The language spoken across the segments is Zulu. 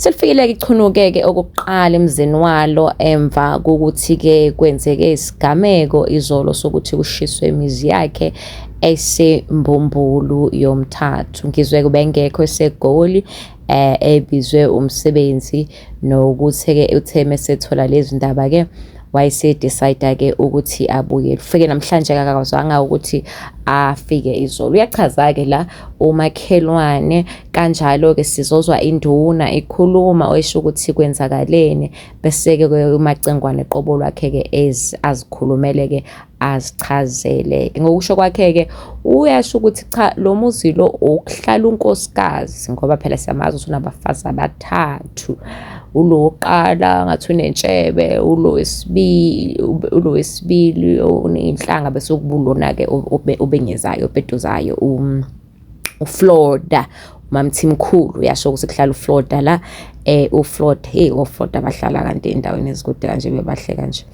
Selifikile-ke ichunuke-ke okokuqala emzini walo emva kokuthi-ke kwenzeke isigameko izolo sokuthi kushiswe imizi yakhe esembumbulu yomthathu ngizwe kubengekho esegoli eh ebizwe umsebenzi nokuthi-ke uthe mesethola lezi ndaba-ke wayesedecide-ke ukuthi abuye kufike namhlanje akakazwanga ukuthi afike izolo uyachaza-ke la umakhelwane kanjalo-ke sizozwa induna ikhuluma oyisho ukuthi kwenzakaleni bese-ke umacengwane qobo lwakhe-ke azikhulumele-ke azichazele-ke ngokusho kwakhe-ke uyasho ukuthi cha lo muzi lo ukuhlala unkosikazi ngoba phela siyamazi ukuthi unabafazi abathathu ulo wokuqala ngathi unentshebe ulo wesibili ulo wesibili oneyinhlanga bese kubulona-ke obengezayo opeduzayo um, uflorida umamthimkhulu uyasho ukuthi kuhlala uflorida la eh uflord hey oflord abahlala kanti endaweni ezikude kanje bebahle kanje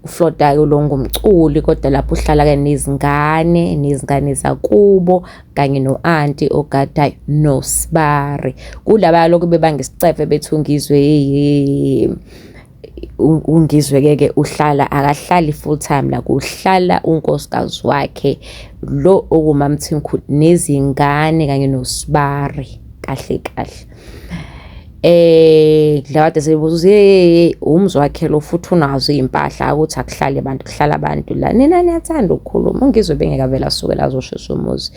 uflord ayo lo ngumculi kodwa lapho uhlala ke nezingane nezingane zakubo kanye no-anti ogadayo nosibari kulaba lokhu bebanga isicefe bethunga izwe ungizweke-ke uhlala akahlali full time la kuhlala unkosikazi wakhe lo okumamthimkhulu nezingane kanye nosibari kahle kahle eh kade sebuza hey umzi wakhe lo futhi unazo izimpahla ukuthi akuhlale abantu kuhlala abantu la nina niyathanda ukukhuluma ungizwe bengeka vela asuke lazoshisa umuzi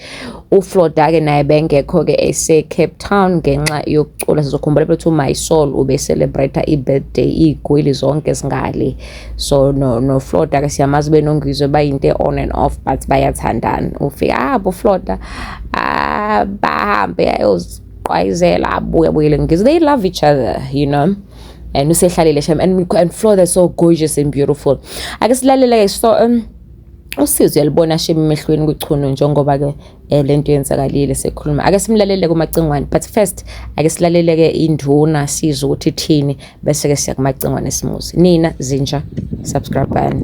uFloda ke naye bengekho ke ese Cape Town ngenxa yokucula sizokhumbula ukuthi uMy Soul ube celebrate ibirthday igwili zonke singale so no no Floda ke siyamazi benongizwe bayinte on and off but bayathandana ufika ah bo Floda ah bahambe ayoz Qayizela abuya buyele ngizo they love each other you know and usehlalile shem and, and Flo they're so gorgeous and beautiful ake silalele ke so um usizo uyalibona shema emehlweni kuchunu njengoba ke eh, lento yenzakalile sekhuluma ake simlalele kumacingwane but first ake silalele ke induna siza ukuthi thini bese ke siya kumacingwane simuzi nina zinja subscribe bani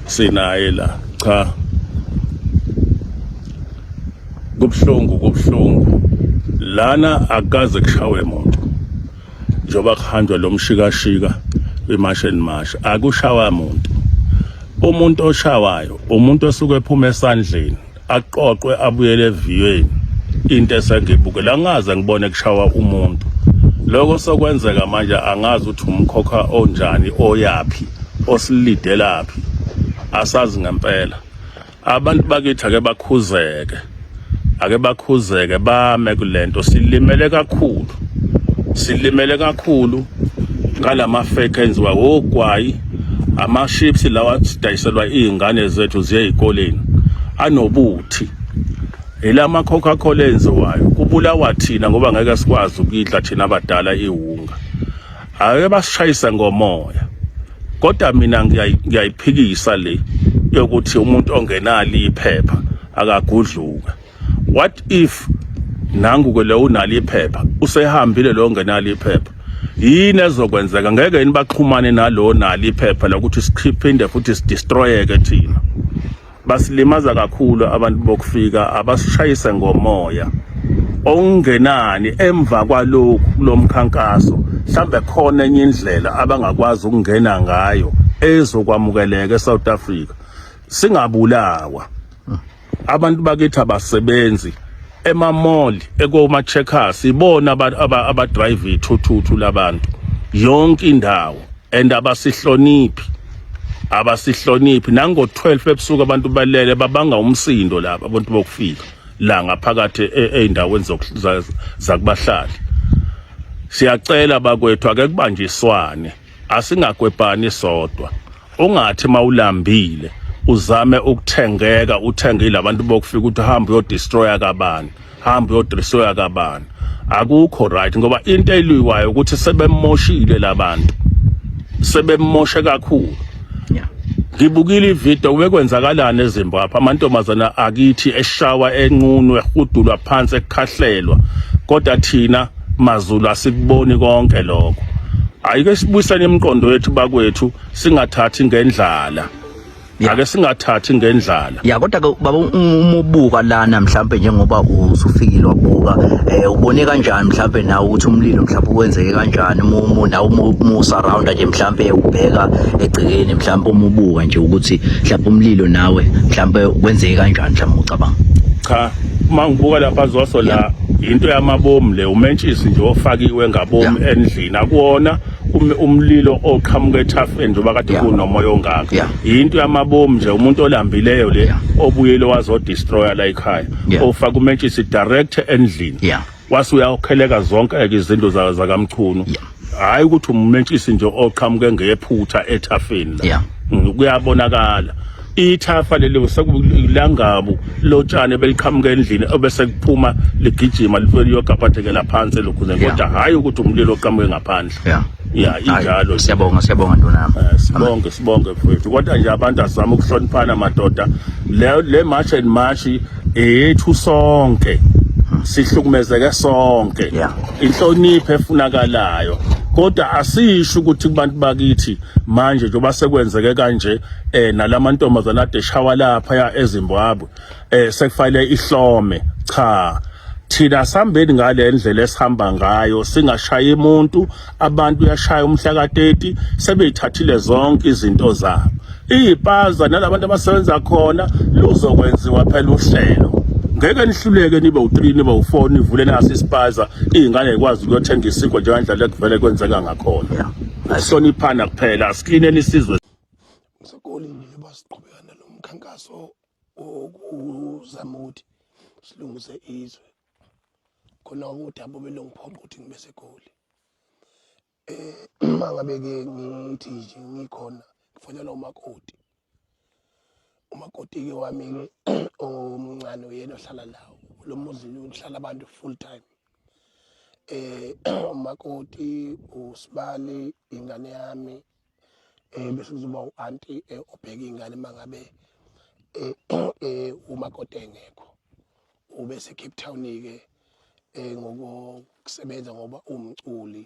sinaye la cha kubuhlungu kubuhlungu lana akaze kushawe muntu njengoba kuhanjwa lo mshikashika kwimash and mash akushawa muntu umuntu oshawayo umuntu osuke ephuma esandleni aqoqwe abuyele eviyweni into esengibuke la ngaze ngibone kushawa umuntu lokho sokwenzeka manje angazi ukuthi umkhokha onjani oyaphi osilidelaphi asazi ngempela abantu bakithi ake bakhuzeke ake bakhuzeke bame kulento silimele kakhulu silimele kakhulu ngalama fake enziwa ogwayi ama-ships lawa sidayiselwa iy'ngane zethu ziye ey'koleni anobuthi elama coca cola enziwayo kubulawa thina ngoba ngeke sikwazi ukuyidla thina abadala iwunga ake basishayise ngomoya kodwa mina ngiyayiphikisa le yokuthi umuntu ongenali iphepha akagudluka what if nangu ke lo unalo iphepha usehambile lo ngenalo iphepha yini ezokwenzeka ngeke yini baxhumane nalo nalo iphepha lokuthi sikhiphinde futhi sidestroyeke thina basilimaza kakhulu abantu bokufika abasishayise ngomoya okungenani emva kwalokhu kulomkhankaso mhlambe khona enye indlela abangakwazi ukungena ngayo ezokwamukeleka eSouth Africa singabulawa abantu bakithi abasebenzi emamall ekoma checkers ibona abadrive ithuthuthu labantu yonke indawo and abasihloniphi abasihloniphi nango 12 ebusuku abantu balele babanga umsindo laba abantu bokufika la ngaphakathi e, eindaweni zakubahlali siyacela bakwethu ake kubanjiswane Asingagwebhani sodwa. Ungathi mawulambile uzame ukuthengeka uthenge labantu bokufika ukuthi hamba uyodestroya kabani, hamba uyodestroya kabani. Akukho right ngoba into eliyiwayo ukuthi sebemoshile labantu. Sebemoshe kakhulu. Ngibukile ivideo kubekwenzakalana eZimbabwe amantombazana akithi eshawa enqunwe ehudulwa phansi ekukhahlelwa kodwa thina MaZulu asikuboni konke lokho ayike sibuyisane imiqondo yethu bakwethu singathathi ngendlala ake singathathi ngendlala ya kodwa ke baba umubuka lana mhlambe njengoba usufikile wabuka eh ubone kanjani mhlambe nawe ukuthi umlilo mhlambe wenzeke kanjani umumu nawe umu surround nje mhlambe ubheka egcekeni mhlambe umubuka nje ukuthi mhlambe umlilo nawe mhlambe wenzeke kanjani mhlambe ucabanga cha uma ngibuka lapha zoso la into yamabomu le umentshisi nje ofakiwe ngabomu endlini akuwona um, umlilo oqhamuka ethafeni njengoba kade kunomoya ongaka yinto yamabomu nje umuntu olambileyo le obuyile wazodestroya la ekhaya ofaka umentshisi direct endlini wase uyawukheleka zonke-ke izindlu za- zakamchunu Yeah. hhayi ukuthi umumentshisi nje oqhamuke ngephutha ethafeni la Yeah. Mm, kuyabonakala ithafa leli sekulangabu lotshani beliqhamuka endlini obese kuphuma ligijima life liyogabhadekela phansi elokhuzeni Yeah. kodwa hhayi ukuthi umlilo oqhamuke ngaphandle Yeah. ya Hhayi, injalo nje. Siyabonga, siyabonga ndonami. Eh, sibonge sibonge mfethu kodwa nje abantu asizama ukuhloniphana madoda le le march and march eyethu sonke sihlukumezeke sonke Yeah. inhlonipho efunakalayo kodwa asisho ukuthi kubantu bakithi manje njengoba sekwenzeke kanje eh nalamantombazana ade shawa lapha ya eZimbabwe eh sekufanele ihlome cha thina sambeni ngale ndlela esihamba ngayo singashayi umuntu abantu yashaya umhla ka-30 sebeyithathile zonke izinto zabo iyipaza nalabantu abasebenza khona luzokwenziwa phela uhlelo ngeke nihluleke nibe u-3 nibe u-4 nivule naso isipaza iy'ngane yikwazi ukuyothenga isinkwa njengandlela ekuvele kwenzeka ngakhona ahloniphana kuphela asiklineni isizwe sakolini basiqhubeka nalo mkhankaso wokuzama ukuthi silungise izwe khona udaba obelongiphoqa ukuthi ngibe segoli uma ngabe-ke ngithi nje ngikhona ngifonela umakoti umakoti-ke wami-ke omncane uyena ohlala lawo lo muzi uhlala abantu full time eh umakoti usibali ingane yami eh bese kuzoba uanti eh, obheka ingane mangabe eh, eh umakoti engekho ube se Cape Town ke eh ngokusebenza ngoba umculi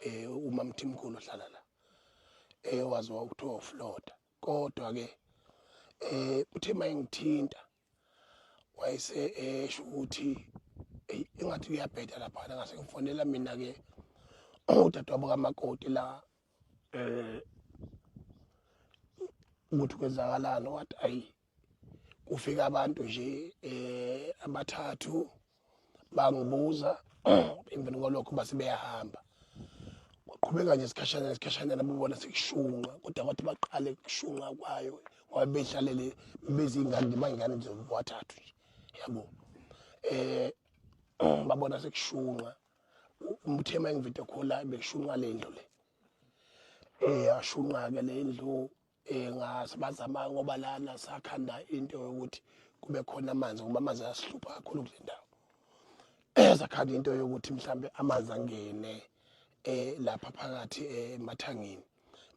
eh umamthimkhulu ohlala la eh waziwa ukuthiwa ufloda kodwa ke eh uthe mayengithinta wayese esho ukuthi eyi engathi uyabheda laphana ngase ngifonela mina-ke udadewabo kamakoti la um ukuthi kwenzakalani wathi ayi kufika abantu nje um abathathu bangibuza emveni kwalokho base beyahamba kwaqhubeka nje isikhashana isikhashana nabubona sekushunqa kodwa kwathi baqale kushunqa kwayo ngoba behlalele bezingane nje bayingane nje wathathu nje yabo eh babona sekushunqa umthema engivide khola bekushunqa lendlu le eh yashunqa ke lendlu eh ngasibazama ngoba lana sakhanda into yokuthi kube khona amanzi ngoba amanzi ayasihlupha kakhulu kule ndawo sakhanda into yokuthi mhlambe amanzi angene eh lapha phakathi eh, emathangini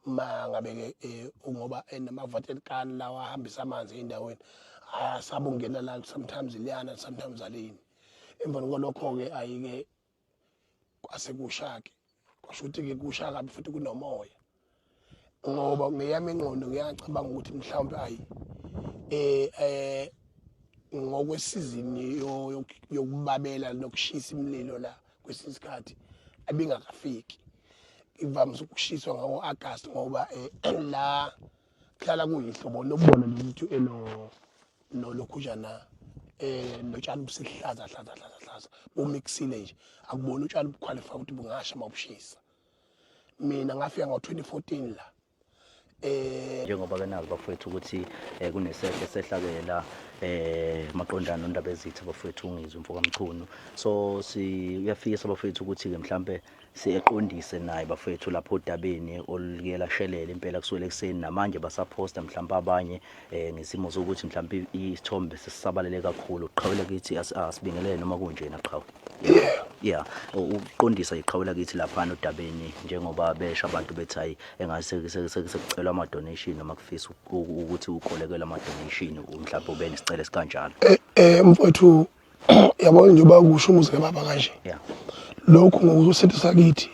uma ngabe ke eh, ngoba enamavatel kan lawa ahambisa amanzi endaweni asabungena la sometimes liyana sometimes alini emva kwalokho ke ayike kwase kushake kwasho ukuthi ke kusha kabi futhi kunomoya ngoba ngeyami ingqondo ngiyacabanga ukuthi mhlawumbe ayi eh eh ngokwesizini yokubabela nokushisa imililo la kwesinye isikhathi abingakafiki ivamise ukushiswa ngawo-agasti ngoba um la kuhlala kuyihlobo lobona nje ukuthi eno nolokhujana eh notshani busihlaza hlaza hlaza hlaza bomixile nje akubona utshani buqualify ukuthi bungasha mabushisa mina ngafika ngo-2014 la eh njengoba kenazi bafowethu ukuthi eh, kunesehlo sehlakela eh maqondana nondaba ezitha bafowethu ungizwe mfoka mchunu so si uyafikisa bafowethu ukuthi ke mhlambe siyeqondise naye bafethu lapho odabeni oluke lashelela impela kusukela ekuseni namanje basaphosta mhlawumbe abanye um ngesimo sokuthi mhlawumbe isithombe sesisabalele kakhulu qhawela kithi asibingelele noma kunjena qhawe ya ukuqondisa iqhawela kithi laphana odabeni njengoba besha abantu bethi hayi engathi sekucelwa ama-donation noma kufisa ukuthi ukolekelwe ama-donation mhlawumbe ube nesicelo esikanjalo um mfowethu yabo njengoba kusho umuzi kababa kanje lokhu ngokusethi sakithi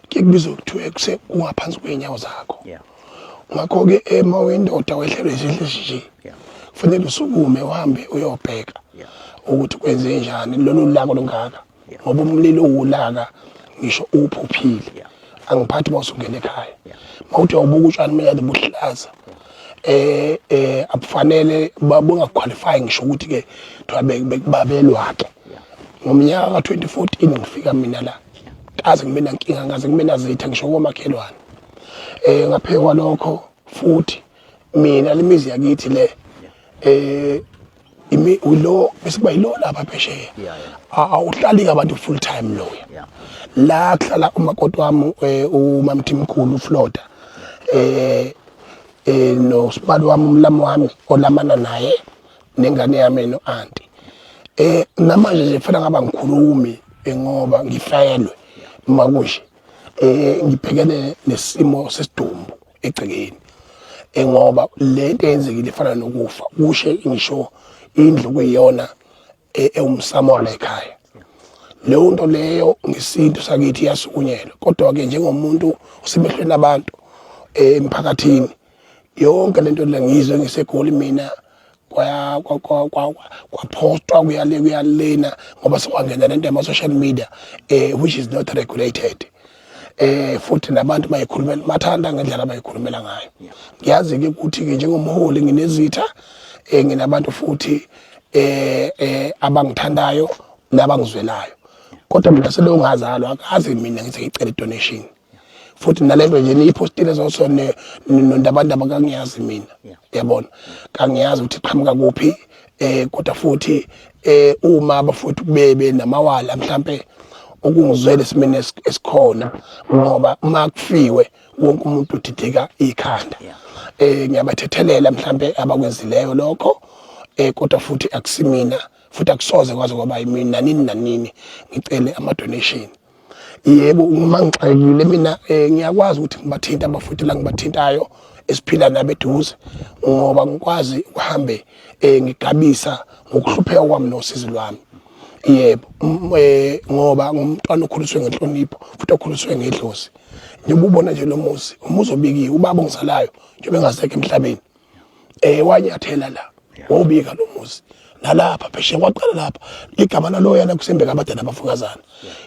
kuyekubizwa kuthiwa kuse ungaphansi kweenyawo zakho ngakho-ke ema wendoda wehlelwe izinhle nje kufanele usukume uhambe uyobheka ukuthi kwenze njani lolu lako lungaka ngoba umlilo uwulaka ngisho uphuphile angiphathi uma usungena ekhaya mawuthi awubuka utshani mina buhlaza eh eh abufanele bungaqualify ngisho ukuthi ke kuthiwa bekubabelwa ke ngomnyaka ka 2014 ngifika mina la kaze ngibe nankinga ngaze ngibe nazitha ngisho komakhelwane eh ngaphekwa lokho futhi mina lemizi yakithi le eh imi ulo bese kuba yilo lapha phesheya awuhlali ngabantu full time loya la kuhlala umakoti wami eh, umamthimkhulu ufloda eh eh no sibali wami umlami wami olamana naye nengane yami no auntie eh namanje nje fela ngaba ngikhulumi eh, ngoba ngifaelwe makushe eh ngibhekene nesimo sesidumbu egcekeni eh, ngoba le nto eyenzekile ifana nokufa kushe ngisho indlu kuyiyona eh, ewumsamo wala ekhaya leyo nto leyo ngesintu sakithi iyasukunyelwa kodwa-ke njengomuntu usemehlweni abantu eh, emphakathini yonke lento lengizwe ngisegoli mina kwaphostwa kuyale kuyalena ngoba sekwangena lento yama-social media eh which is not regulated eh futhi nabantu bayikhulumela bathanda ngendlela abayikhulumela ngayo ngiyazi ke ukuthi ke njengomholi nginezitha eh nginabantu futhi eh eh abangithandayo nabangizwelayo kodwa mina selongazalwa akazi mina ngithi ngicela donation futhi nalento nje niyipostile zoso nondabandaba kangiyazi mina yabona kangiyazi ukuthi qhamuka kuphi eh kodwa futhi eh uma abafuthi kubebe namawala mhlambe okungizwele simene esikhona ngoba uma kufiwe wonke umuntu udideka ikhanda eh ngiyabathethelela mhlambe abakwenzileyo lokho eh kodwa futhi akusimina futhi akusoze kwaze kwaba yimina nanini nanini ngicele ama donation yebo uma ngixakekile mina eh, ngiyakwazi ukuthi ngibathinte abafuthi la ngibathintayo esiphila nabo eduze ngoba ngikwazi ukuhambe um ngigabisa ngokuhlupheka kwami nosizi lwami yebo um ngoba ngumntwana okhuliswe ngenhlonipho futhi okhuliswe ngedlozi njengoba ubona nje lo muzi umuzi obikiwe ubaba ongizalayo njengoba engasekho emhlabeni eh wanyathela la wawubika lo muzi nalapha pheshe kwaqala lapha ligama laloya la kusembe kabade nabafukazana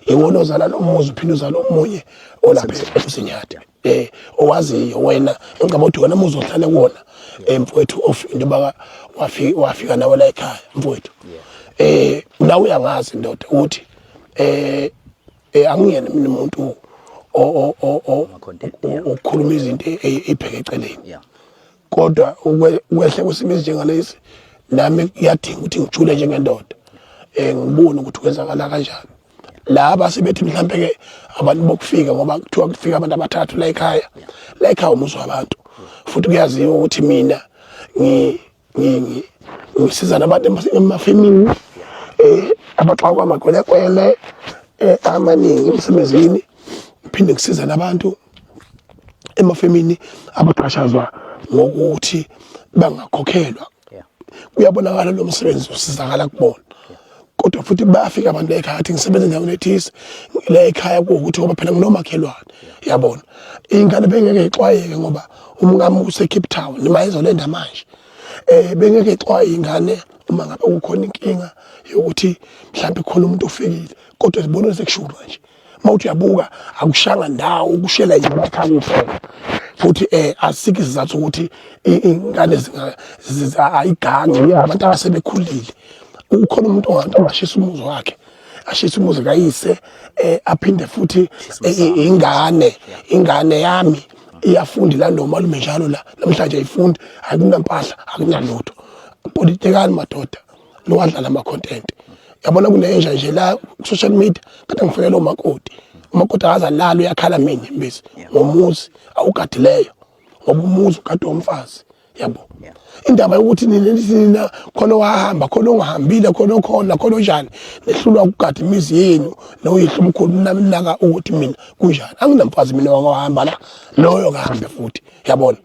iwona ozala lo muzi uphinde uzala omunye olapha emsinyati eh owaziyo wena ngicabanga ukuthi wena muzi ohlale kuwona eh, mfowethu ofunda baka wafika wafika nawe la ekhaya mfowethu eh nawe uyangazi ndoda ukuthi eh Eh angiyena mina umuntu okhuluma izinto e, e, ebheke eceleni. Kodwa ukwehle kwesimo esinjengalesi nami kuyadinga ukuthi ngijule njengendoda. Eh ngibone ukuthi kwenzakala kanjani. laba sebethi mhlambe ke abantu bokufika ngoba kuthiwa kufika abantu abathathu la ekhaya la ekhaya umuzi wabantu futhi kuyaziwa ukuthi mina ngi ngisiza nabantu emafemini um eh, abaxakwa amakwelekwele um amaningi emsebenzini ngiphinde ngisiza nabantu emafemini abaxhashazwa ngokuthi bangakhokhelwa kuyabonakala lo msebenzi usizakala kubona yeah. kodwa futhi bayafika abantu ekhaya athi ngisebenza endaweni ethise la ekhaya kuwukuthi ngoba phela nginomakhelwane yabona ingane bengeke ixwayeke ngoba umkami usecape town nima izolenda manje um bengeke ixwaye ingane uma ngabe kukhona inkinga yokuthi mhlawumbe khona umuntu ofikile kodwa zibona sekushulu nje uma uthi uyabuka akushanga ndawo ukushela nje amakhaya kuphela futhi eh asikho isizathu ukuthi ingane ayigange abantu abasebekhulile ukhona umuntu ongathi ongashisa umuzi wakhe ashisa umuzi kayise eh aphinde futhi eh, ingane ingane yami iyafundi la nomalume njalo la namhlanje ayifundi akunampahla akunalutho politekani madoda nowadlala ama content yabona kunenja nje la ku social media kade ngifonela umakoti umakoti akaza lalo uyakhala mina imbisi ngomuzi awugadileyo ngoba umuzi ukade womfazi yabo indaba yokuthi nina nina khona wahamba khona ongahambile khona okhona khona onjani nehlulwa ukugada imizi yenu noyihlo umkhulu nami naka ukuthi mina kunjani anginamfazi mina wahamba la loyo kahambe futhi yabona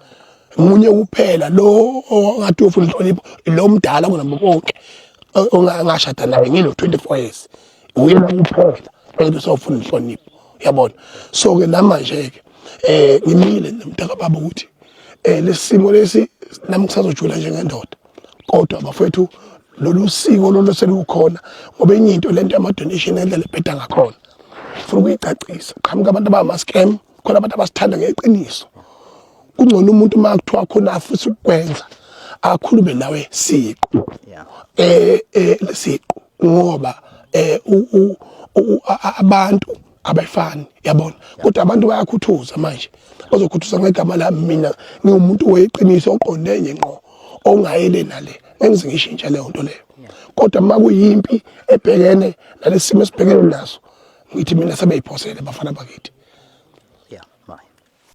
munye kuphela lo ongathi ufuna inhlonipho lo mdala kunabo konke ongashada naye ngino 24 years uye kuphela ukuthi usofuna inhlonipho yabona so ke namanje ke eh ngimile nomntaka baba ukuthi eh lesimo lesi nami kusazojula njengendoda kodwa bafethu lolu siko lolu selukhona ngoba enye into lento yama donation endlela ebheda ngakhona ufuna ukuyicacisa qhamuka abantu abama scam khona abantu abasithanda ngeqiniso kungcono umuntu uma kuthiwa khona afisa ukukwenza akhulume nawe siqu eh eh siqu ngoba eh abantu abayifani yabona kodwa abantu bayakhuthuza manje bazokhuthuza ngegama lami mina ngiwumuntu weqiniso oqonde enye ngqo ongayele nale engize ngishintshe leyo nto leyo kodwa uma kuyimpi ebhekene nalesimo esibhekene naso ngithi mina sebeyiphosele bafana bakithi